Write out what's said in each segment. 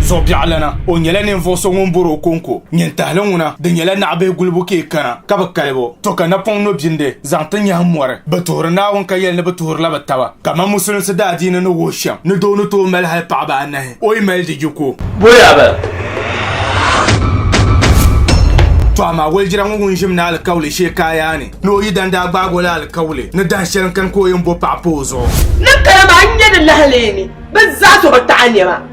Zɔbiɛɣulana o nyɛla ninvuɣu so ŋun bori o konko nyintahili ŋuna di nyɛla naɣabihi gulibu ka i kana ka bi kali bo to ka napɔŋ nobindi zaŋ ti nyahim mɔri, bɛ tuhiri Naawuni ka yɛli ni bɛ tuhirila bɛ taba, kaman Musulinsi daadiini ni wuhi shɛm ni doo ni tooi mali hal paɣiba anahi, o yi mali di yi ku o. Bɔya ba! Tɔ amaa wolidira ŋɔ ŋun ʒim ni alikauli shee ka a yaa ni ni o yidana daa gbaag o la alikauli ni dahin shɛli n-kani ka o yɛn bo paɣa pa o zuɣu. Ni kali maa n-nyɛ di lahaleemi, bɛ zaa tɔ bi taɣi nɛma.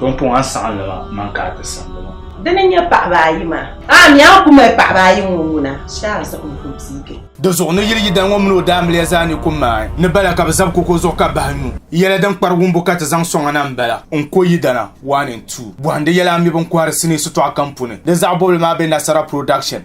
Pumpɔŋɔ saɣimlima mini ka a ti simdi ma. Di ni nyɛ paɣiba ayi maa. A mi a ku mali paɣiba ayi ŋɔ ŋuna shee a zabi n ku biigi. Di zuɣu ni yili yidana ŋɔ mini o daamiliya zaa ni ku maai ni bala ka bɛ zabi koko zuɣu ka bahi nyu. Yɛla din kpari wumbu ka ti zaŋ sɔŋ a na m-bala, N ko yidana, one and two. Bɔhindi yɛla a mi bini kɔhiri sinii sitɔɣu kam puuni. Di zaɣ bɔbili maa be Nasara Production.